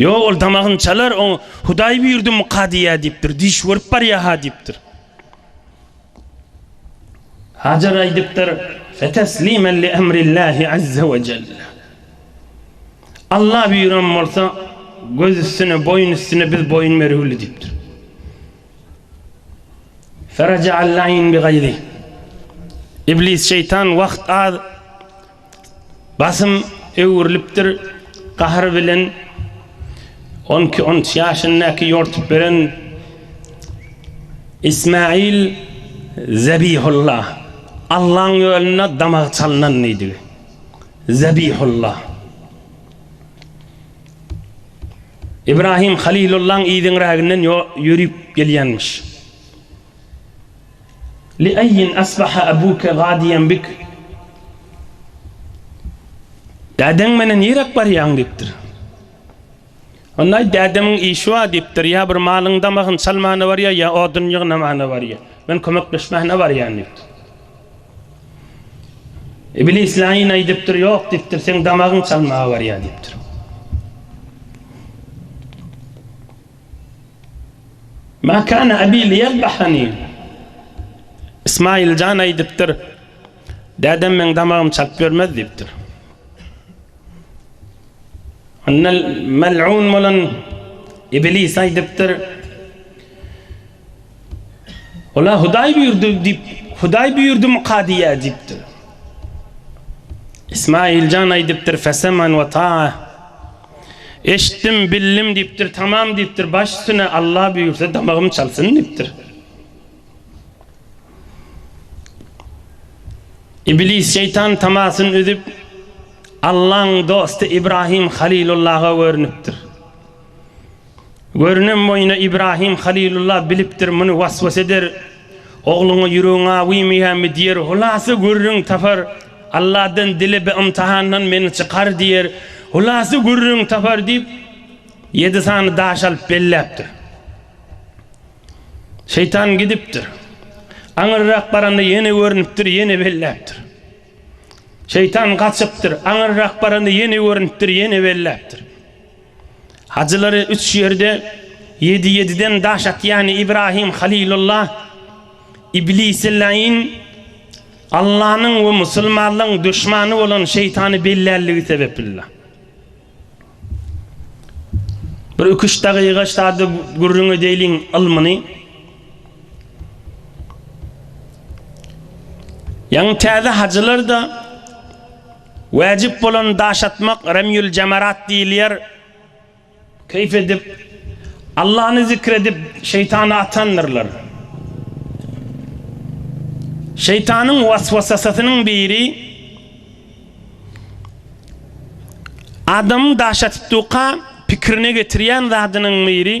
Ýok, ol damagyny çalar, oňa Hudaý buýurdymyka diýýär diýipdir, diş görüp barýar-ha diýipdir. Hajar aýdypdyr, Feteslimen li emrillahi azze we celle. Alla buýuran bolsa, göz üstüne, boýun üstüne biz boýun bergüli diýipdir. Feraja'al-laýn bi gaýzi. Iblis şeýtan wagt az Basym öwrülipdir gahr bilen on iki on üç ýaşyndaky ýortup beren Ismail Zebihulla Allaň ýolunda damagy çalnan diýdigi Zebihulla Ibrahim Halilullaň yzyňräginden ýörüp gelýänmiş. Liaýin asbaha abuke gadiýen bik? Dädeň meni niräk barýaň? diýipdir. Onda aýt, Dädemiň işi bar diýipdir. Ýa bir malyň damagyny çalmana barýar, ýa odun ýygnamana barýar. Men kömekleşmäne barýan diýipdir. Iblis Laýyn aýdypdyr, Ýok diýipdir, seň damagyň çalmaga barýar diýipdir. Ma kana abi liyadbahani. Ismail jan aýdypdyr, Dädem meň damagymy çalyp bermez diýipdir. Annal mal'un bolan iblis aýdypdyr, Olar Hudaý buýurdy diýip, Hudaý buýurdymyka diýýär diýipdir. Ismaýyl jan aýdypdyr, Feseman we taa. Eşitdim, bildim diýipdir, tamam diýipdir, baş üstüne, Alla buýursa damagym çalsyn diýipdir. Iblis şeýtan tamasyny üzüp, Allaň dosty Ibrahim Halilullaha görünipdir. Görünen boýuna Ibrahim Halylulla bilipdir muny waswas eder, ogluňa ýüregiň awymyýamy diýer, hulasa gürrüň tapar, Alladan dile bi ymtahandan meni çykar diýer, hulasa gürrüň tapar diýip ýedi sany daş alyp belläpdir. Şeýtan gidipdir. Aňyrrak baranda ýene görnüpdir, ýene belläpdir. Şeýtan gaçypdyr, aňyrrak baranda ýene görnüpdir, ýene belläpdir. Hajylary üç ýerde ýedi-ýediden daş atýany Ibrahim Halilulla, Iblisi laýyn, Allanyň we musulmanlygyň duşmany bolan şeýtany bellänligi sebeplila. Bir iki-üç dagyga sada gürrüň edeýliň ylmyny. Ýaňy täze hajylar-da. Wäjip bolan daş atmak Remýül Jamarat diýilýär. Keýp edip, Allany zikr edip, şeýtany atandyrlar. Şeýtanyň waswasasynyň biri adamyň daş atypdyka pikirine getirýän zadynyň biri.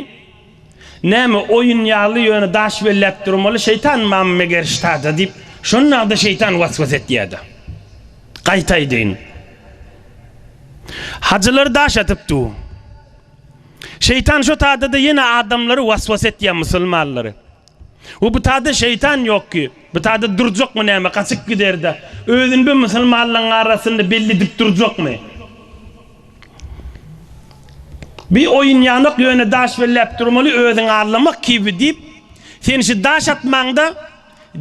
Näme, oýun ýaly, ýöne daş belläp durmaly, şeýtan mam meger ştada, diýip, şonda-da şeýtan was-was etýär-de. Gaýtaýdyn. Hajylar daş atyp dur. Şeýtan şo tada-da ýene adamlary was-was etýär, musulmanlary. We butada şeýtan ýokki. Butada durjakmy näme, gaçyp giderde. Özüni bir musulmanlaryň arasynda belli edip durjakmy? Bi oýun ýanok ýöne daş belläp durmaly özüňi allamak kibi diýip sen şu daş atmaňda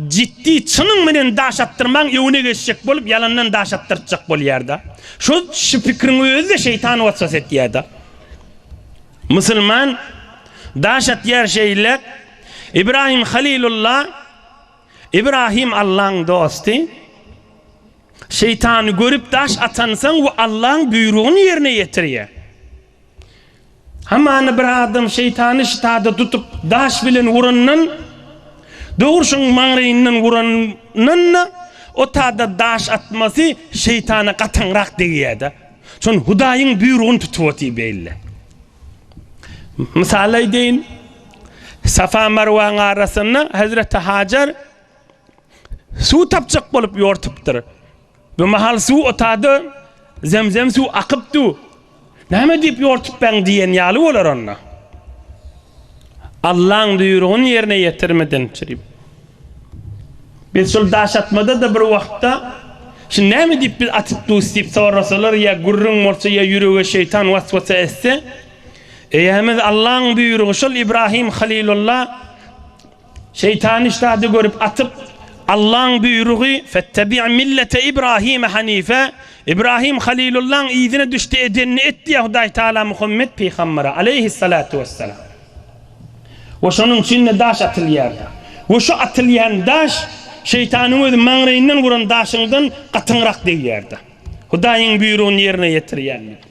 jiddi çynyň menen daş atdyrmaň öňüne geçjek bolup ýalandan daş atdyrtjak bolýarda. Şo şu pikriň özi de şeýtan waswas etýärda. Musulman daş atýar şeýle, Ibrahim Halilulla, Ibrahim Allaň dosty, şeýtany görüp daş atansoň we Allaň buýrugyny ýerine ýetirýär. Hamana bir adam şeýtany ştada tutup daş bilen urandan, dogrusyň maňraýyndan urandan-da, o tada daş atmasy şeýtana gatyňrak degýär-de. Şon Hudaýyň buýrugyny tutup otyr beýle. Mysal aýdaýyn. Safa Marwaň arasynda Hezreti Hajar suw tapjak bolup ýortupdyr. Bu mahal suw otady, zemzem suw akypdy. Näme diýip ýortup ben diýen ýaly bolar onda. Allaň buýrugyny ýerine ýetirmedin çrip. Biz şol daş atmada-da bir wagtda Şu näme diýip biz atyp dus diýip sorasalar ýa gürrüň bolsa ýa ýürege şeýtan waswasa etse, eýämiz Allaň buýrugy şol Ibrahim Halilulla, Şeýtan işdady görüp atyp, Allaň buýrugy, Fettabi' millete Ibrahime hanife, Ibrahim Halilullaň yzyna düşde edenini et diýýär Hudaý Tagala Muhammet pygambere, aleýhis-salatu wes-selam. We şonuň üçin-de daş atylýardy. We şu atylýan daş şeýtanyň özi maňraýyndan guran daşyňdan gatyňrak degýärdi. Hudaýyň buýrugyny ýerine ýetirýänlik.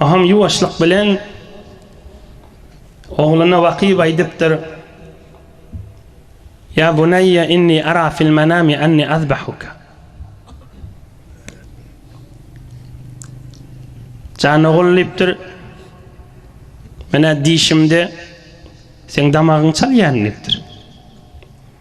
Aham ýuwaşlyk bilen ogluna wakyp aýdypdyr, Ýa buneýýe inni ara fil menami anni azbahuka. Jan ogul diýipdir, Men-ä dişimde seň damagyňy çalýaryn diýipdir.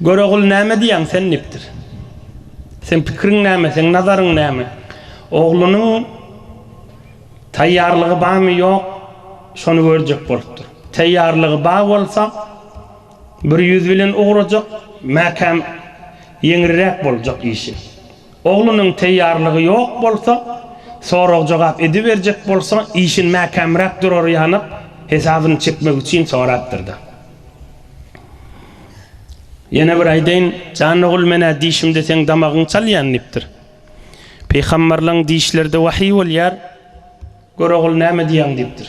Görogul näme diýýäň sen dipdir. Seň pikiriň näme, seň nazaryň näme? Oglunyň taýýarlygy bamy ýok, şony görjek bolupdyr. Taýýarlygy bar bolsa, bir ýüz bilen ugrajak, mäkäm ýeňriräk boljak işi. Oglunyň teýýarlygy ýok bolsa, sorag-jogap ediberjek bolsa, işin mäkämräk durary ýanyk, hesabyny çekmek üçin sorapdyr-da. Ýene bir aýdaýyn, jan ogul, men-ä dişimde seň damagyňy çalýan diýipdir. Pygamberleň dişleri-de wahyý bolýar, gör ogul näme diýýäň diýipdir.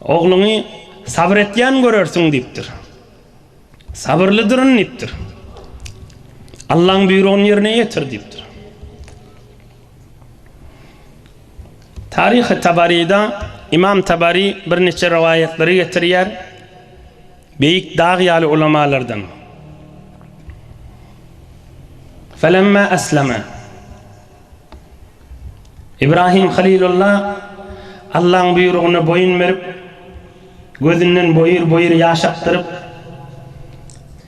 Ogluňy sabyr etýän görersiň diýipdir. Sabyrlydyryn diýipdir. Allaň buýrugyny ýerine ýetir diýipdir. Taryhy Tabaryda Ymam Tabary birniçe rowaýatlary getirýär, beýik dag ýaly ulamalardan. Felemma esleme. Ibrahim Halilulla Allaň buýrugyna boýun berip, gözünden boýur-boýur ýaş akdyryp,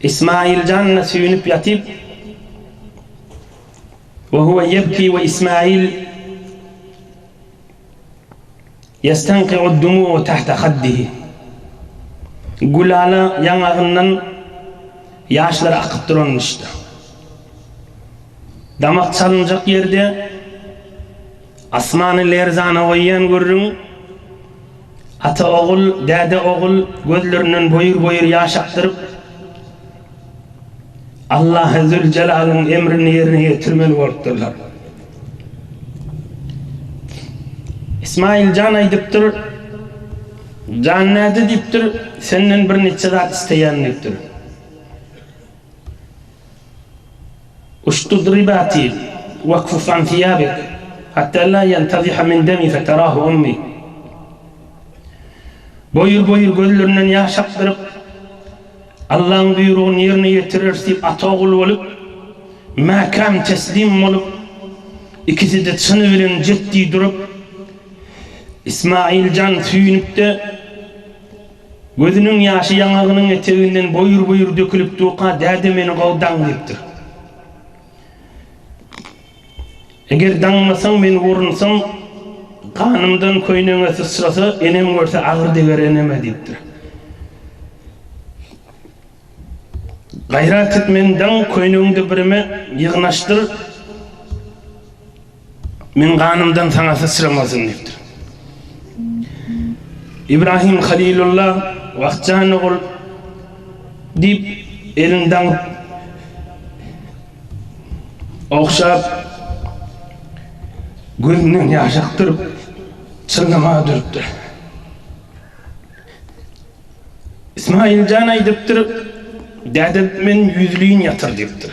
Ismaýyl janyna süýnüp ýatyp, we huwe ýebki we Ismaýyl Ýestanki'ud-dumu'u tahta haddihi. Gülala ýaňagyndan ýaşlary akyp duran dişde. Damak çalynjak ýerde asmany lerzana goýýan gürrüň. Ata-ogul, däde-ogul gözlerinden boýur-boýur ýaş akdyryp, Allahy Züljelalyn emrini ýerine ýetirmeli bolupdyrlar. Ismaýyl jan aýdypdyr, Jan näde diýipdir, Senden birniçe zat isleýän diýipdir. Uştudribati wakfuf an thiýabik, hatda la ýantaziha min demi feterahu ummi. Boýur-boýur gözlerinden ýaş akdyryp, Allaň buýrugyny ýerine ýetireris diýip ata ogul bolup, mäkäm teslim bolup, ikisi-de çyny bilen jetdi durup, Ismail jan süýnüp-de, Gözüniň ýaşy ýaňagynyň eteginden boýur-boýur dökülip durka däde meni gowy daň diýipdir. Eger daňmasaň meni urunsaň, ganymdan köýnegiňe syçrasa, enem görse agyr deger eneme diýipdir. Gaýrat et meni daň, köýnegiňde birime ýygnaşdyr. Meň ganymdan saňa syçramasyn diýipdir. Ibrahim Halilulla wagtjan ogul diýip elini daňyp ogşap gözünden ýaş akdyryp çyllamaga durupdyr. Ismailjan aýdypdyr, Däde men ýüzleýin ýatyr diýipdir.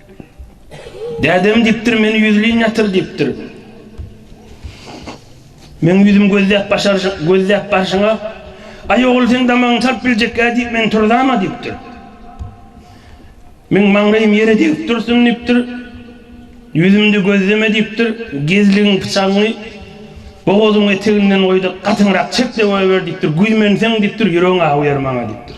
Dädem diýipdir, Meni ýüzleýin ýatyr diýipdir. Meň ýüzüm gözläp başaryşy, gözläp barşyňa, Aý ogul seň damagyňy salyp biljekkä diýip men turzama diýipdir. Meň maňlaýym ýere degip dursun diýipdir. Ýüzümde gözleme diýipdir. Gezligiň pyçagyňy bogazyň eteginden goýda gatyňrak çek-de goýber diýipdir. Güýmenseň diýipdir, ýüregiň awy ýer maňa diýipdir.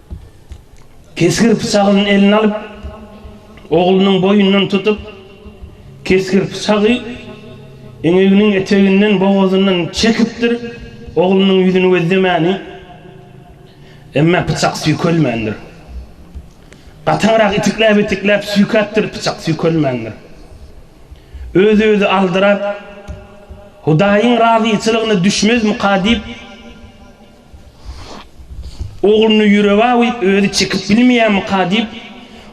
Kesgir pyçagyny eline alyp, oglunyň boýundan tutup, kesgir pyçagy eňeginiň eteginden, bogazyndan çekipdir, oglunyň ýüzüni gözlemäni, emma pyçak süýkelmändir. Gataňrak itikläp-itikläp süýkäpdir, pyçak süýkelmändir. Öz-özi aldyrap, Hudaýyň razyçylygyna düşmezmika diýip, Ogluny ýüreg-a goýup özi çekip bilmeýärmika diýip,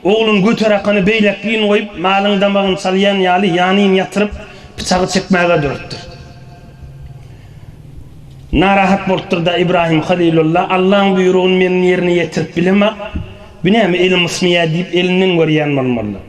oglun göterakany beýläk gün goýup, malyň damagyny çalýan ýaly ýanyn ýatyryp, pyçagy çekmäge döretdir. Narahat bolupdyr-da Ibrahim Halylulla, Allaň buýrugyny men ýerine ýetirip bilemok, bu näme elim ysmaýar diýip elinden görýän bolmalydyr.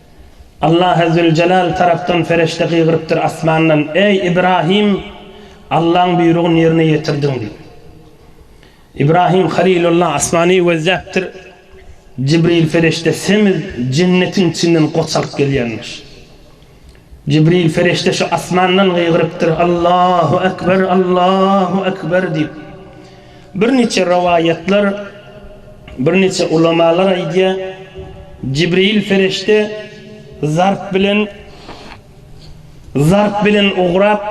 Allahy Züljelal tarapdan perişde gygyrypdyr asmandan, Eý, Ibrahym, Allaň buýrugyny ýerine ýetirdiň diýip. Ibrahym Halilullah asmany gözläpdir, Jibril perişde semiz jennetiň içinden goç alyp gelýänmiş. Jibril perişde şu asmandan gygyrypdyr, Allahy Ekber, Allahy Ekber diýip. Birniçe rowaýatlar, birniçe ulamalar aýdýar, Jibril perişde zarp bilen zarp bilen ugrap,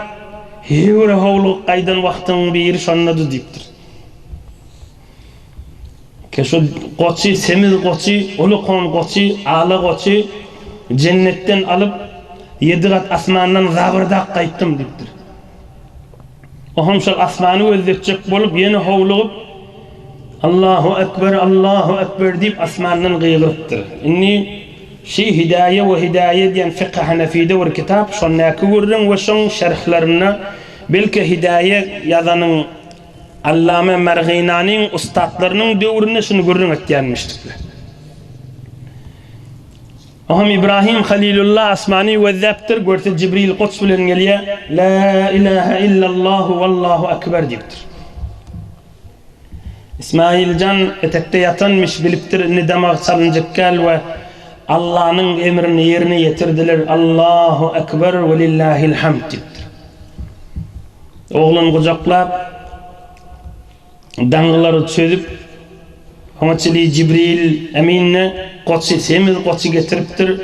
Hewre howlugyp gaýdan wagtyň biri şondady diýipdir. Kä şu goçy, semiz goçy, uly kon goçy, ala goçy jennetden alyp, ýedi gat asmandan zabyrdak gaýtdym diýipdir. Oham şol asmany gözletjek bolup ýene howlugyp, Allahu ekber, Allahu ekber diýip asmandan gygyrypdyr. Indi Şi Hidaýe we Hidaýe diýen Fykhy Hanefide bir kitap, şondaky gürrüň we şoň şerhlerinde belki Hidaýe ýazanyň Allame Merginanyň ussatlarynyň döwründe şuny gürrüň etýänmişdikler. Oňam Ibrahim Halilulla asmany gözläpdir, görse Jibril goç bilen gelýär, Lä ilähä illallahu wallahu ekber diýipdir. Ismailjan etekde ýatanmyş, bilipdir indi damagy çalynjykkäl we Allanyň emrini ýerine ýetirdiler, Allahu ekber welillahil hamd diýipdir. Oglan gujaklap. daňylary çözüp, oňa çenli Jibril Emin-de goçy, semiz goçy getiripdir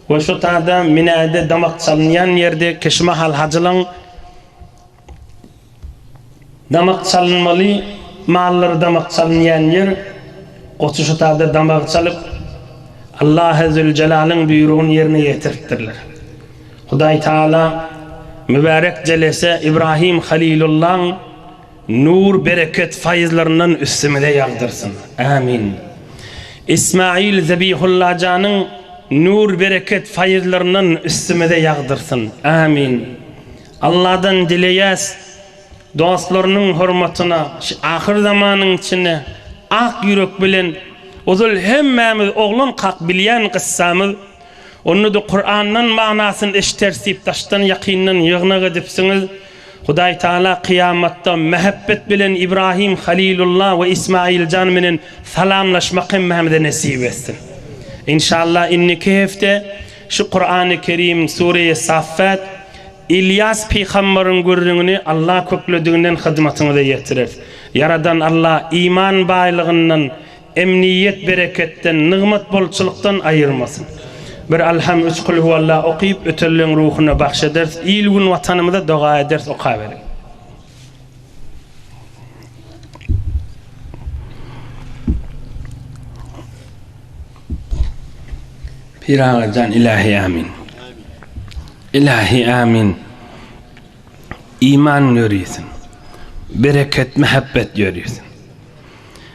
we şo tada minäýde damak çalynýan ýerde keşmahal hajylaň damak çalynmaly mallary damak çalynýan ýer, goçy şo tada damagy çalyp, Allahy Züljelalyn buýrugyny ýerine ýetiripdirler. Hudaý Tagala mübärek jelese Ibrahim Halilullaň, Nur bereket faýyzlaryndan üstümize ýagdyrsyn. Ämin. Ismail Zebihullajanyň nur bereket faýyzlaryndan üstümize ýagdyrsyn. Ämin. Alladan dileýäs dostlarynyň hormatyna şu ahyr zamanyň içinde ak ýürek bilen ozal hemmämiz oglan kak bilýän gyssamyz onda-da Kurandan manasyny eşideriz diýip daşdan ýakyndan ýygnak edipsiňiz. Hudaý Tagala kyýamatda mähebbet bilen Ibrahim Halilulla we Ismailjan menen salamlaşmak hemmämize nesip etsin. Inşallah indiki hepde şu Kurany Kerim Sureýe Saffat Ilýas Pygambaryň gürrüňini Allah köklediginden hyzmatyňyza ýetireris. Ýaradan Allah iman baýlygyndan Emniýet bereketden, nygmat bolçulykdan aýyrmasyn. Bir Alham, üç Kulhuwalla okyp, ötelleriň ruhuna bagş ederis. Il-gün Watanymyza doga ederis. Okaberiň. Pyragyjan Ilahi Amin. Ilahi Amin. Iman ýörisin. Bereket, mähebbet ýörisin.